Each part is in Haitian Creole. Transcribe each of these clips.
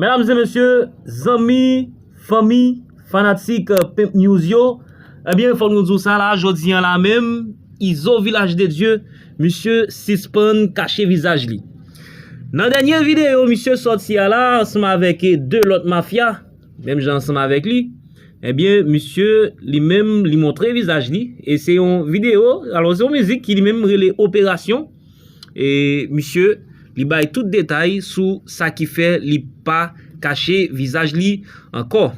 Medam e mesye, zanmi, fanmi, fanatik Pimp News yo, ebyen fòk nou di w sa la, jodi an la menm, Izo Vilaj de Dye, misye sispann kache vizaj li. Nan dènye videyo misye sòti a la, ansanm avèk 2 lòt mafya, menm jan ansanm avèk li, ebyen misye li menm li montre vizaj li, e se yon videyo, alò se yon mizik ki li menm rele Operasyon. E misye li bay tout detay sou sa ki fè li pa kache vizaj li ankò.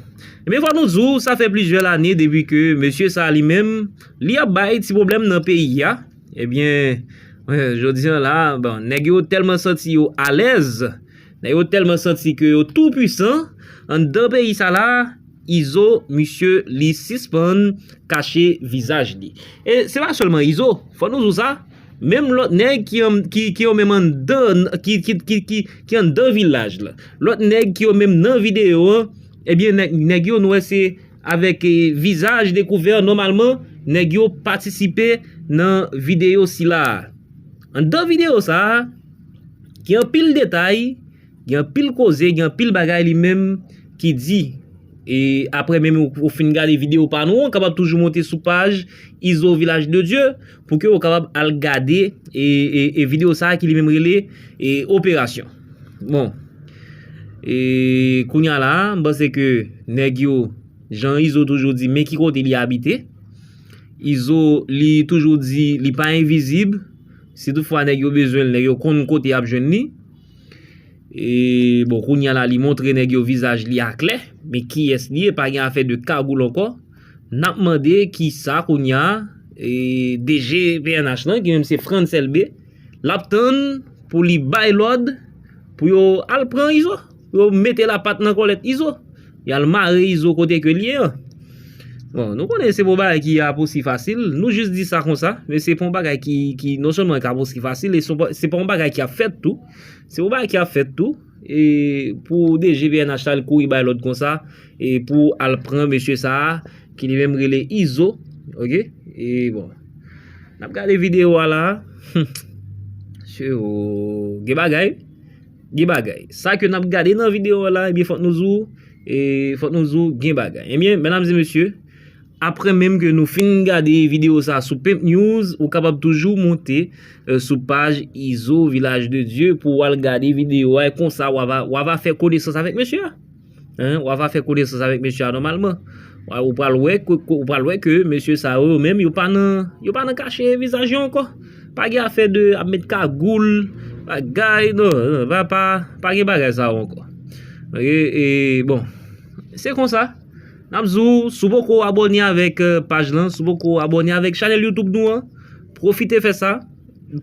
Ebyen fòk nou di w sa fè plizyè lane depi ke mesye sa li menm li ap bay ti pwoblèm nan peyi a. Ebyen jodi an la bon nèg yo tèlman santi yo alèz, nèg yo tèlman santi ke yo tou pwisan anndan peyi sa la. Izo misye li sispann kache vizaj li. E se pa selman Izo, fò nou zou sa, menm lòt nèg ki yo menm anndan ki anndan vilaj la, lòt nèg ki yo menm nan video an, ebyen nèg yo nou wè se avèk vizaj dekouvè nòmalman nèg yo patisipe nan video sila. Anndan video sa, gen anpil detay. Gen anpil koze gen anpil bagay li menm ki di e aprè menm ou fin gade video pa nou an ou kapab toujou monte sou paj Izo Vilaj de Dye pou ke ou kapab al gade e video sa ki li menm rele e operasyon bon e kounya la m panse ke nèg yo jan Izo toujou di men ki kote li abite Izo li toujou di li pa envizib si tout fwa nèg yo bezwen l nèg yo konn kote y ap jwenn li Bon kounya la li montre nèg yo vizaj li aklè men kiyès li ye pa gen afè de kagoul ankò nap mande kisa kounya DG pnh lan ki menm se Frantz Elbe lap tann pou li bay lòd pou yo al pran Izo pou yo mete lapat nan kòlèt Izo. Yal mare izo kote ke liye an. Bon nou konnen se pou bagay ki ap osi fasil, nou jis di sa konsa, men se pou yon bagay ki non sèlman kab osi fasil, e se pou yon bagay ki ap fèt tou, se pou yon bagay ki ap fèt tou, e pou DG pnh la al kouri bay lòd konsa, e pou al pran mesye sa a, ki li menm rele izo, ok, e bon, nap gade video a la, humm, mesye oo, gen bagay. Gen bagay. Sa ke nap gade nan video la ebyen fòk nou di w e fòk nou di w gen bagay. Ebyen medam e mesye apre menm ke nou fin gade video sa sou pimp news ou kapab toujou monte sou paj izo vilaj de dye pou w al gade video a e konsa w ava fè konesans avèk mesye a. Hein wa va fè konesans avèk mesye a nòmalman Ou pral wè ke ou pral wè ke mesye sa yo yo menm yo pa nan yo pa nan kache vizaj yo ankò Pa gen afè de ap met kagoul bagay nan nan va pa pa gen bagay sa yo ankò Ok e bon Se konsa N ap di w si w poko abòne avèk paj lan si w poko abòne avèk chanèl Youtube nou an pwofite fè sa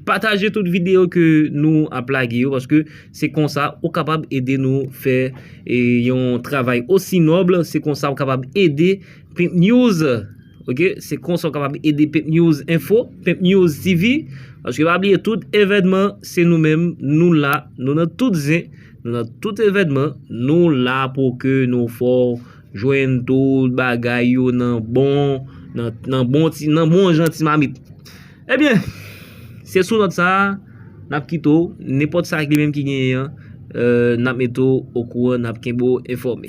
Pataje tout video ke nou ap lage yo paske se konsa ou kapab ede nou fè yon travay osi noble se konsa ou kapab ede pimp news ok se konsa ou kapab ede pimp news info pimp news TV paske pa bliye tout evènman se nou menm nou la nou nan tout zen nou nan tout evènman nou la pou ke nou fè w jwenn tout bagay yo nan bon nan bon jan ti mamit. Ebyen, se sou nòt sa a, n ap kite w, nenpòt sa ki menm ki genyen an, n ap mete w okouran, n ap kenbe w enfòme.